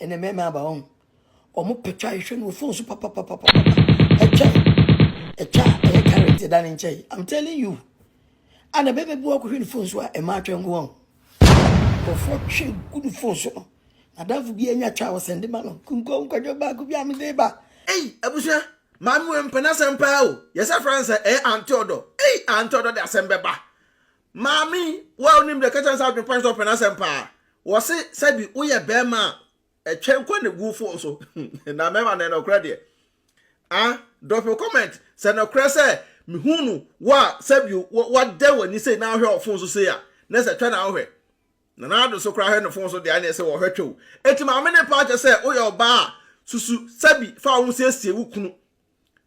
ɛnɛ mɛmɛ aba wɔn wɔn pɛtwa ahwehwɛ no wɔ phone so papapapapa ɛtwa ɛtwa ɛyɛ current ɛda ne nkyɛn i'm telling you ana bɛbɛ bi wakɔhwɛ ne phone so a ɛma atwa nko wɔn nkurɔfoɔ twe gu ne phone so no nadafo bi anya twa wɔ sɛnde ma no kunkɔ nkwadwa baako bi a mede ba ei abusua maame wɔ mpɛ n'asɛm paa o yɛsɛ frɛ no sɛ ɛyɛ antɔdɔ ei antɔdɔ de asɛm bɛba Maame yi, wo a wonim deɛ, ka kyerɛ no sɛ adwene pa ne sɛ ɔpɛ n'asɛm paa. Wɔse sɛ bi woyɛ barima a, ɛtwɛn kɔ ne gu fon so. Na mmarima na ɛnɔkorɛ deɛ. Ah, drop your comment sɛ nɔkorɛ sɛ mehu no wo a sɛ bi woadɛn w'ani sei na wohwɛ wɔ fon so sei a, na ɛsɛ twɛ na wohwɛ. Na na ado so koraa hwɛ no fon so deɛ a na ɛsɛ wɔhwɛ twɛ o. Enti maame ne paa kyɛ sɛ woyɛ ɔbaa a, susu sɛ bi fa wo ho siesie wo kunu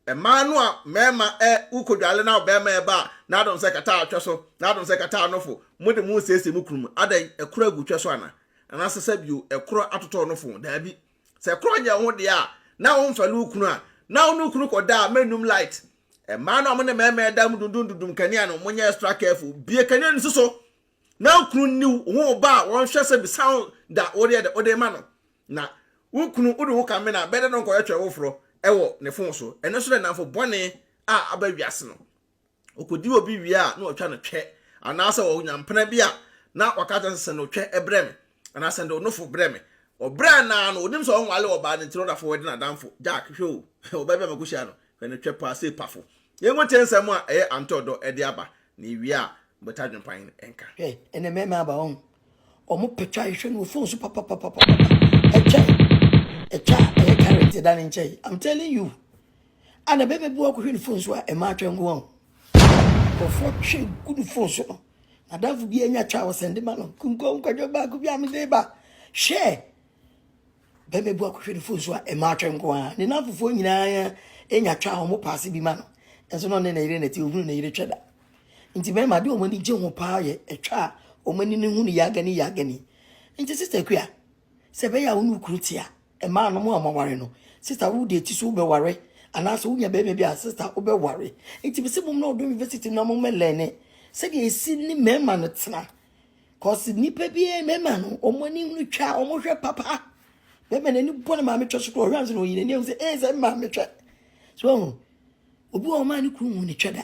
Mmaa no a mmarima ɛ, wokodwale na ɔbarima ɛba a, n'adom sɛ kata atwɛ so, n'adom sɛ kata anofo, mode mo resiesie mo kunu mu. Adɛn, ɛkorɔ agu twɛ so ana? Anaasɛ sɛ bio, ɛkorɔ atotɔ ɔnofo? Daabi. Sɛ ɛkorɔ nyɛ wo ho deɛ a, na womfɛre wo kunu a, na wo ne wo kunu kɔda a, mɛnnum light. Mmaa no a mo ne mmarima ɛda a mo dundum dundum kanea no, monyɛ extra careful. Bue kanea no si so na wo kunu nni wo ho ba a, wɔnhwɛ sɛ bisa wo da wodeɛ dɛ, wode rema no. Na wo kunu wode wo ka mena bɛdɛ no nkɔyɛ twɛn foforɔ wɔ ne fon so. Ɛno nso dɛ nnamfo bɔne a aba wiase no. Ɔkɔdi obi wie a na watwa no twɛ anaasɛ ɔnya mpena bi a na waka akyerɛ sɛ sɛ no twɛ brɛ me anaa sɛ no nofo brɛ me. Ɔbrɛ no ara no ɔnim sɛ ɔnwale ɔbaa no nti na ɔda fam wɛde n'adamfo. Jack, hwɛ o, ɔbaa bi a makɔhyia no, hwɛ no twɛ paa sei pafo. Yɛngu nte nsɛm a ɛyɛ antɔ dɔ de aba na ɛwie a mobɛta adwempan nka. Hwɛ, ɛnɛ mɛma aba, woahu, Wɔn pɛtwa a ehwɛ no wɔ phone so papapapapa. Ɛtwa ɛtwa a ɛyɛ current ɛda ne nkyɛn. I'm telling you. Ana bɛbɛ bi wakɔhwɛ ne phone so a ɛma atwa nko ho. Nkurɔfoɔ twe gu ne phone so no. N'adamfo bi anya twa a ɔsɛnde ma no. Nkunkɔ nkwadwo baako bi a mede ba. Hwɛ! Bɛrima bi akɔhwɛ ne fon so a mmaatwɛ nko ara. Ne nnamfofoɔ nyinaa nya twa a wɔpaase bi ma no. Nanso na ɔne ne yere na ɛte, ɔhunu ne yere twɛ da. Nti mmarima de wɔn ani gye ho paa yɛ ɛtwa a wɔn ani no hunu yagani yagani. Nti sista Akua, sɛ ɛbɛyɛ a wo ne wo kunu te a, mmaa nom a wɔaware no, sista wo deɛ ti so wobɛware anaasɛ wonya bɛrima bi a sista wobɛware. Nti mesɛ mom na ɔdɔ university no a mommɛlɛne sɛdeɛ ɛsi ne mmarima no tena. cause nipa bi mɛma no wɔn ani hunu twa wɔn hwɛ papa mɛma n'ani bɔ ne maame twɛ so kora ɔhwɛ ansa na oyi n'ani ehu sɛ ee sɛ maame twɛ so ɔho obi wɔ ɔmaa ne kuru hu ne twɛ da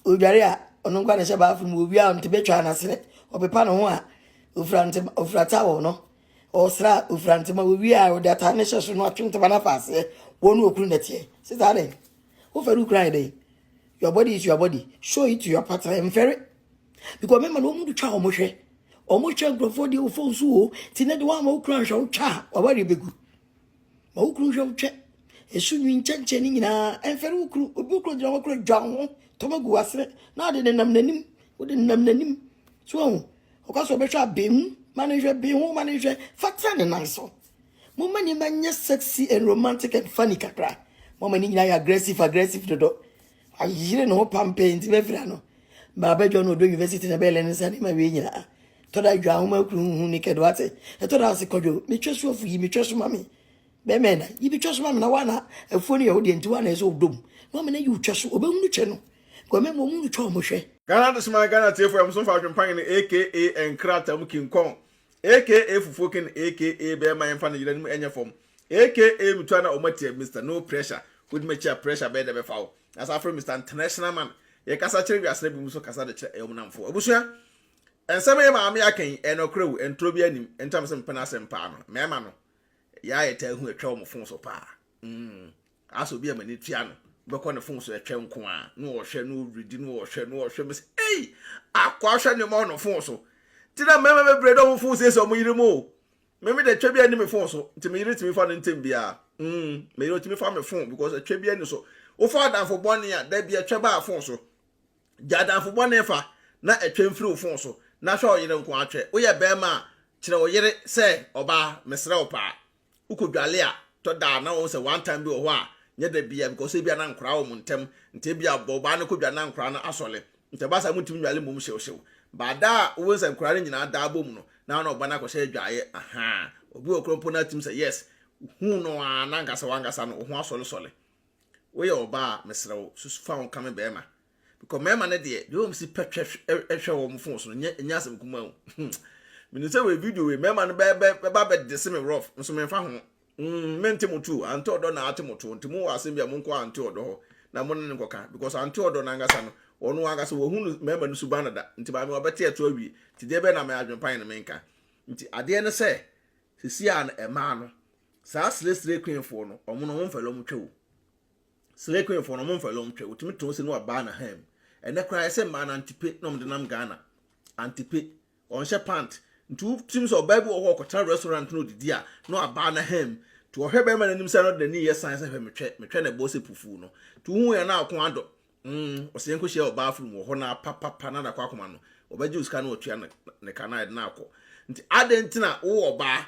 odware a ɔno nkwa ne hyɛ baafo mu owi a ɔnte betwa n'asene ɔpepa ne ho a ofura ntoma ofura towel no ɔsra ofura ntoma owi a ɔde ata ne hyɛ so no atwe ntoma n'afa aseɛ wɔn no okuru nɛteɛ sisan dɛ wofɛ no kura yɛ dɛ your body is your body show it to your partner mfɛre. because mɛma no wɔn twa wɔn hwɛ wɔn hwɛ nkurɔfoɔ deɛ wɔfɔ nso o ti ne de wɔn ama wokura nhwɛ wotwa a wawari bɛgu ma wokuru nhwɛ wotwa esu nwi nkyɛnkyɛn ne nyinaa ɛnfɛre wokuru obi wokuru gyina wɔkura dwa ho tɔmɔ gu wasere na ɔde nenam n'anim wode nenam n'anim so ɛho ɔka sɛ ɔbɛhwɛ abɛn mu ma ne nhwɛ bɛn ho ma ne nhwɛ fatra ne nan so mo ma nneɛma nyɛ sexy and romantic and funny kakra mo ma ne nyinaa yɛ aggressive aggressive dodo. Ayere ne ho pampee nti bɛfira no maa bɛdwa no ɔdɔ university na bɛɛlɛ ne nsa ne ma wie nyinaa. Ɛtɔ da adwa ahoma kuru nhu ne kɛdo ate. Ɛtɔ da ase kɔdwo me twɛ so afu yi me twɛ so ma me. Bɛɛma ɛna yi bi twɛ so ma me na wa na afuo no yɛ wo deɛ nti wa na ɛsɛ ɔdɔ mu. Na ɔmena yi wo twɛ so ɔbɛhunu twɛ no. Guamɛ ma ɔmu no twɛ ɔmo hwɛ. Ghana Adesoman Ghana tiefo yɛm so mfa adwempan no aka nkrataa mu kinkɔn aka fufuo ken aka bɛɛma yɛmfa no yera no mu ɛnyɛ fam. Aka mutual na ɔma tia Mister no pressure wode ma kyi a pressure bɛyɛ dɛ bɛfa wo na saa frɛ Mister international man yɛ kasa kyerɛ wiase na binom so kasa de kyerɛ ɛwom namfo abusua ɛnsɛm yɛ maame aka yi ɛyɛ nɔkorɛ o ɛntorɔ bi anim ɛntam sɛ mpɛ n'asɛm paa no mɛɛma no yɛ ayɛ taa hu ɛtwɛ wɔn fon so paa mm asɛ obi a mani tua no bɛkɔ ne fon so ɛtwɛ nko a na ɔhwɛ na ɔredi na ɔhwɛ na ɔhwɛ mɛ sɛ ei akɔ ahwɛ nneɛma wɔ no fon so ti na mɛɛma bɛbrɛ dɛ wɔn fon siesie wɔn yere mu o Me me de twɛ bi ani me phone so nti me yere tumi fa no ntem biara mm me yere tumi fa me phone because ɛtwɛ bi ani so wofa adanfo bɔne a da bi ɛtwɛ baa phone so gya adanfo bɔne fa na ɛtwɛ mfiri wo phone so na hwɛ ɔyere nko atwɛ woyɛ bɛrima a kyerɛ wo yere sɛ ɔbaa mesrɛ wo paa wokɔ dwale a tɔ da na wɔn sɛ one time bi wɔ hɔ a nyɛ da bia because ebia na nkora wɔn ntɛm nti ebia bɔ ɔbaa no kɔ dwa na nkora no asɔle Ntsi ɔba sa mutum nyare mbom hyewhyew. Baada a wo nsankuraa no nyina da abɔmu no, na ana ɔba no akɔhyɛ edwaayɛ? Ahaa. Obi wɔ kor mpo na atsim sɛ yes, huu no a nankasa wankasa no, wo ho asɔlesɔle. Woyɛ ɔba a, meserɛ wo, susu fa ho ka me barimba. Because mbarimba no deɛ, deɛ wɔsi pɛ twɛ hwɛ wɔn fon so no, nyɛ nyɛ asɛm kumaa o. Menim sɛ wei video wei, mbarimba no bɛ bɛ bɛba abɛdese me rough, nso memfa ho. Mm mente mo too, ante ɔdɔ na ate mo too, nti mo wɔ asɛm bi a mo nkɔ ante ɔdɔ hɔ na mo ne ne nkɔka, because ante ɔdɔ no ankasa no, ɔno ankasa wɔhu no mmarima no suban dada, nti maame wabɛte ɛto awie, nti deɛ bɛyɛ na me adwenpan no menka. Nti adeɛ ne sɛ, sɛsi a no ɛmaa no, saa sire sire queen foɔ no, ɔmo no ɔmo mfɛle ɔmo twɛ o. Sire queen foɔ no ɔmo mfɛle ɔmo twɛ, wotumi tɔn se no wabaa na ham. Ɛnɛ koraa yɛsɛ mmaa no antipe na ɔmo de nam Ghana, antipe, Ɔnhyɛ pant nti wotumi sɛ ɔbaa bi wɔ hɔ ɔkɔtena restaurant na ɔdidi a na waba na hɛm nti ɔhwɛ bɛɛma no anim saa na ɔde n'ani yɛ sign sɛ hwɛ metwɛ metwɛ na ɛbɔɔ sɛ pufuu no nti wohuu yɛn na ɔko adɔ mm ɔsɛ yɛn kɔhyia wɔ bathroom wɔ hɔ na pa pa pa na ada kɔ akoma no ɔbɛgye osika na watua ne ne ka na yɛde no akɔ nti adɛn nti na wo wɔ ɔbaa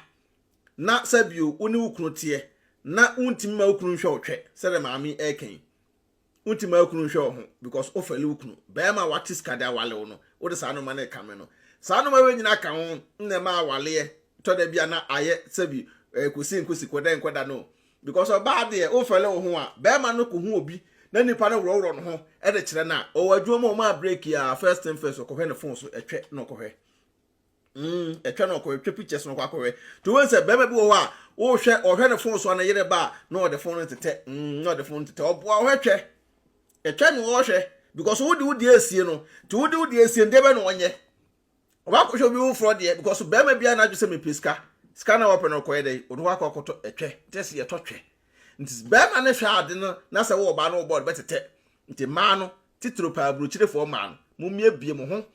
na sɛbio wo ne wo kunu teɛ na wontumi ma wo kunu nhwɛ wo twɛ sɛdeɛ maame ɛɛka yi. Wonti ma kunu nhwɛ wo ho because wo fɛle wo kunu. Bɛɛma a wate sika de awale wo no, wo de saa nnoɔma no rekame no. Saa nnoɔma wei nyina ka ho na ɛma awaleɛ tɔ da bi a na ayɛ sɛbi ɛɛ kosi nkosi kɔda nkɔda no. Because ɔbaa deɛ wo fɛle wo ho a, bɛɛma no ko hu obi na nipa no worɔworɔ no ho de kyerɛ no a, ɔwɔ adwuma mu a ɔmaa break a, first thing first ɔkɔhwɛ ne phone so, ɛtwɛ na ɔkɔhwɛ. Mm, ɛtwa na ɔkɔhwɛ, twa pictures na ɔkɔ akɔhwɛ. To wɔn sɛ bɛrima bi wɔ hɔ a, wɔhwɛ, ɔhwɛ ne phone so a ne yere ba a, na ɔde phone no tetɛ, mm, na ɔde phone no tetɛ. Ɔboa ɔhwɛ twɛ. Ɛtwa na ɔhwɛ because wode wo deɛ asie no. To wode wo deɛ asie no, deɛ bɛ na ɔnyɛ. Ɔba akɔhwɛ obi foforɔ deɛ because bɛrima bi a na adwo sɛ mepɛ sika. Sika na wɔpɛ no ɔkɔyɛ dɛ, ɔde hɔ akɔ akɔtɔ ɛtwɛ. Nti ɛsɛ yɛtɔ twɛ. Nti bɛrima no hwɛ ade no na sɛ wɔ ɔbaa no wɔ bɔɔd bɛtetɛ. Nti mmaa no, titiriw paa aburokyirefoɔ mmaa no, mommie bie mo ho.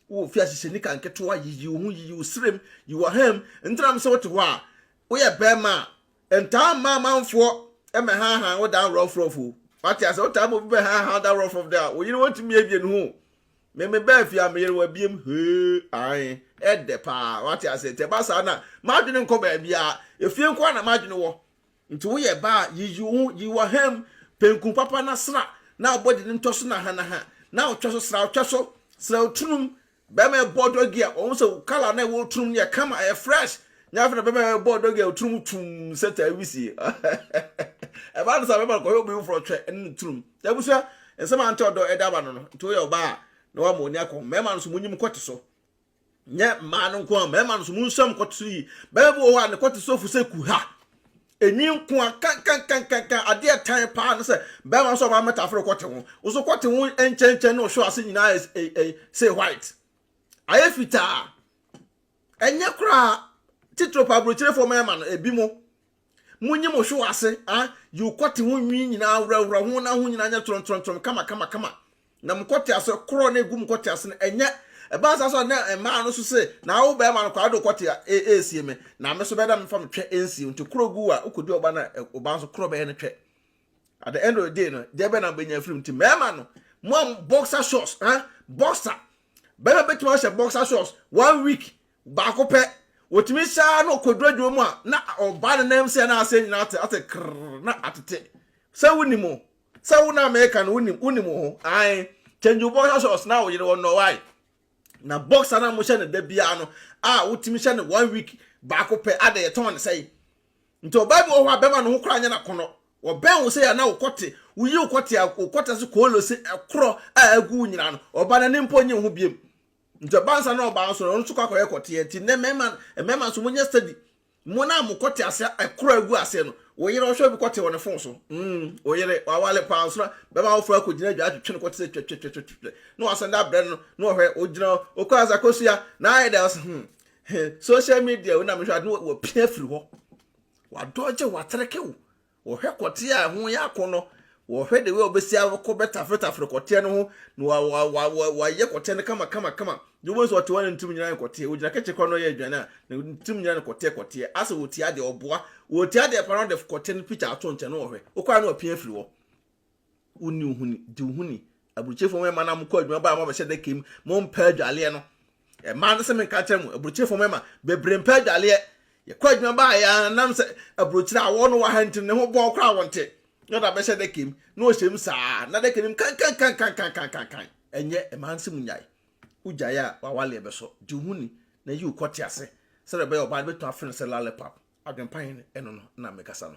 Wo mfiase hyɛ nika nketewa, yiyi wo ho, yiyi wo srem, yi w'aham, ntram sɛ wote hɔ a woyɛ barima a, ntaa mma amanfoɔ mmɛhaahaa wo dan rɔfrɔf o. Wate ase? Wotaa ma obi bɛhaahaa wo dan rɔfrɔf dɛ a, wo yere wɔntumi abie ne ho o. Me mebaa fie a, me yere wabiem, hee, ae, ɛdɛ paa. Wate ase? Nti ɛba saa no a, m'adwene nkɔ baabiara, efie nko ara na m'adwene wɔ. Nti woyɛ ba a, yiyi wo ho yi wɔ ha mu, penku papa na sra, na abɔde no ntɔ so nahanaha, na ɔtwɛ so sra ɔtwɛ so, sra otunum, bɛrima ɛbɔ dɔgi a, wɔhu sɛ wo kala na ɛwɔ otunum no yɛ kama, ɛyɛ fresh, nyɛ afei na bɛrima ɛbɔ dɔgi a otunum twum sɛ taa wisie, ɛba no saa bɛrima no kɔhwɛ obi foforɔ twɛ ɛne no tunum, na abusua, nsɛm a nte ɔdɔ ɛde aba no no, nti woyɛ ɔbaa a, na wama w'ani akɔ ho, mmarima no nso monyim kɔte so, nyɛ mmaa no nko a mmarima no so mu nsɛm kɔte so yi bɛrima bi wɔ hɔ a ne kɔte so fo sɛ kuha enwi nko a kankankankankan adeɛ ɛtan paa no sɛ bɛrima nso ɔba mmɛta aforo kɔte ho nso kɔte ho nkyɛnkyɛn na ɔhwɛ ase nyinaa ayɛ say white ayɛ fitaa ɛnyɛ koraa titiro pa aburokyerefo mmarima no ebi mo Munyi mo hwew ase, ah, yiw kɔte ho nwi nyinaa, wurawura ho na ho nyinaa nyɛ torɔntorɔntorɔm kama kama kama. Na mo kɔte ase korɔ na egu mo kɔte ase no, ɛnyɛ ɛbaa saa so na mmaa no so se, na awo bɛrima no kɔ ade kɔte a esie me, na me so bɛda me fa me twɛ ensie nti korɔ gu a wokɔdi ɔba na ɔba nso korɔ bɛyɛ no twɛ. At the end of the day no, deɛ bɛn na wobɛnya afiri mu nti mmarima no, mo a boxer shorts, ah, boxer, bɛrima bɛtumi ahyɛ boxer shorts one week Baako pɛ, wɔtumi hyɛ ara na ɔkɔduru adwuma mu a, na ɔba ne nan mu sɛ na aseɛ nyinaa ate, ate krrr, na atete. Sɛ wonim o, sɛ wo na meka no wonim, wonim wo ho. Ae, change wo boxer shorts na woyere wɔn nnɔwae. Na boxer no a mohyɛ no da biara no, a wotumi hyɛ no one week baako pɛ, ada yɛtɔn no sɛe. Nti ɔbaa bi wɔ hɔ a bɛma no ho koraa nyɛ n'akɔnnɔ. Wɔbɛn wo sɛ a na wokɔte, woyi wokɔte a wokɔte ase koolo se ɛkorɔ a agu wo nyinaa no, ɔba n'ani mpo nnye wo ho biam. Nti ɔba nsa na ɔba nso no ɔno nso kɔ akɔyɛ kɔteɛ nti nnɛ mmarima mmarima nso mo nyɛ steady mo na mo kɔte ase ɛkoro agu aseɛ no wo yere ɔhwɛ bi kɔte wɔ ne fon so mm wo yere wawale paa nso na bɛma awofoɔ akɔ gyina adwa atwetwe no kɔte sɛ twɛtwɛtwɛtwɛtwɛ na wasan da abrɛ no na ɔhwɛ ogyina okɔ asa kosua na ayɛ dɛ ɔsɛ hmm social media wo na mehwɛ ade no wapia firi hɔ wadɔgye watereke wo Wɔhwɛ kɔteɛ a ɛho yɛ akɔnnɔ, wɔhwɛ the way a wɔbɛsi akɔ bɛtafretafre kɔteɛ no ho, na wa wa wa wa wayɛ kɔteɛ no kama kama kama. Deɛ wobɛhu sɛ ɔte hɔ na ne tirim nyinaa yɛ kɔteɛ, ogyina kɛkyɛ kora na ɔyɛ aduane a, na ne tirim nyinaa ne kɔteɛ kɔteɛ. Asɛ ɔtia adeɛ, ɔboa. Ɔtia adeɛ paa na ɔde kɔteɛ no picture ato nkyɛn na ɔhwɛ. Wokɔ a na wapia afiri hɔ. Wonni wo ho ni, di wo ho ni. Aburokyefo mmarima na mokɔ adwuma baa mabɛhyɛ dɛka mu, mompɛ adwaleɛ no. Mmaa no sɛ menka kyerɛ mo, aburokyefo mmarima bebree mpɛ adwaleɛ. Yɛkɔ adwuma baa yɛ ara nam sɛ aburokyire a wɔwɔ no wɔ ha nti ne ho bɔɔ koraa wɔnte. Na ɔde abɛhyɛ dɛka mu, na ɔhyɛ mu saa, na dɛka no mu kankankankankankankan. Ɛnyɛ, mmaa no sɛ monnyae. Wogyae a, w'awaleɛ bɛsɔ. Di wo ho ni, na yi wo kɔtease, sɛdeɛ ɛbɛyɛ ɔbaa no bɛtumi afrɛ no sɛ lollipop. Adwempa he no, ɛno no na mekasa no.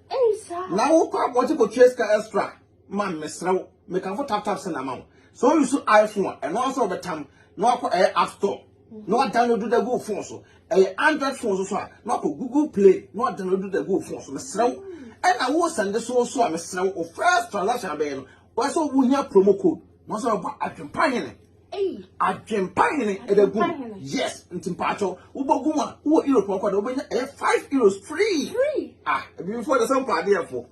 na wokɔ abɔnten kɔtua sika extra ma mesrɛ wo mekamfo tap tap send ama wo sɛ woyi so iphone a ɛno ara sɛ wɔbɛtam na wakɔ ɛyɛ app store na wadownload da gu phone so ɛyɛ android phone so so a na wakɔ google play na wadownload da gu phone so mesrɛ wo ɛna wo sɛnde so so a mesrɛ wo first transaction abɛyɛ no wɔsɛ wohia promo code na wɔsɛ wɔbɔ adwempa hene Adwempa hene ɛbɛ gu yes nti mpaatɔ wobɔ gu a wowɔ europe ɔkɔ de wobɛnya ɛyɛ five euros free ah ebibifo de sɛ mpa adeɛ fo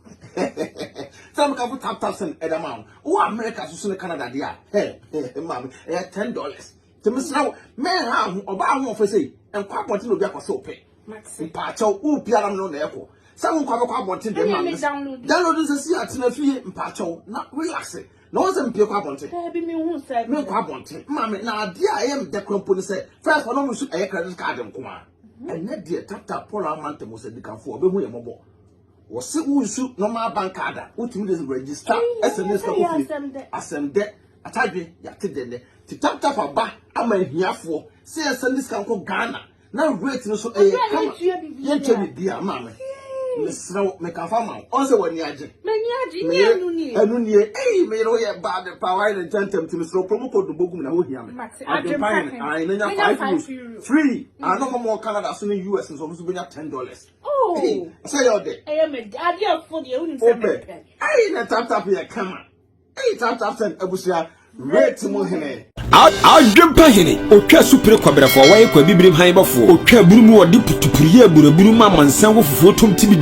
sɛ mo kafo tap tap sɛn ɛda ma wo wowɔ america soso ne canada deɛ a hɛ hɛ maame ɛyɛ ten dollars te mesra wo mɛn ha ho ɔbaa ho ɔfɛ sɛ nkɔ abɔnten na obi akɔ sɛ ɔpɛ mpaatɔ wo biara no na ɛkɔ sɛ wo nkɔ abɛkɔ abɔnten deɛ maame download nsɛ si atena fie mpaatɔ na relax Na wɔn sɛ mpie kɔ abɔnten. Daabi mi hu sɛ. Mi nkɔ abɔnten. Maame na adeɛ a ɛyɛ mi dɛ kura mpo ni sɛ first wɔn mu nso ɛyɛ credit card nko ara. Ɛnɛ deɛ tata Paul ama ntɛm sɛ dikanfoɔ ɔbɛhu yɛ mɔbɔ. Wɔsi wo nsu normal bank card a wotumi de register ɛsɛ ne sika kofie. Asɛm dɛ atadwe yate dɛ nɛ ti tap tap aba ama ahiafoɔ sɛ yɛn sɛ ne sika nkɔ Ghana na weight no so ɛyɛ kama yɛntwa biribiara maa me mesrɛ wo mekafa ma wo ɔn sɛ w'ani agye ɛno nie ei meyere wo yɛ baa de paa wayɛ ne ntɛntɛm nti mesrɛ wo promo code no bɔgu me na wohia me adwempan no ae menya 5 euros free ano ma mɔ canada so ne us nso ɔmo so bɛnya 10 dollars sɛ yɛ ɔdɛ wopɛ ei na taptap yɛ kama Eyi tap tap send abusua rate mu hene. Adwempa hene, otwa asupere kɔbrɛfoɔ, wɔyɛ kɔ abibirim han bɔfoɔ, otwa aburu mu, ɔde putupuru yɛ aburaburu ma amansan wɔ fufuo tom tibidi.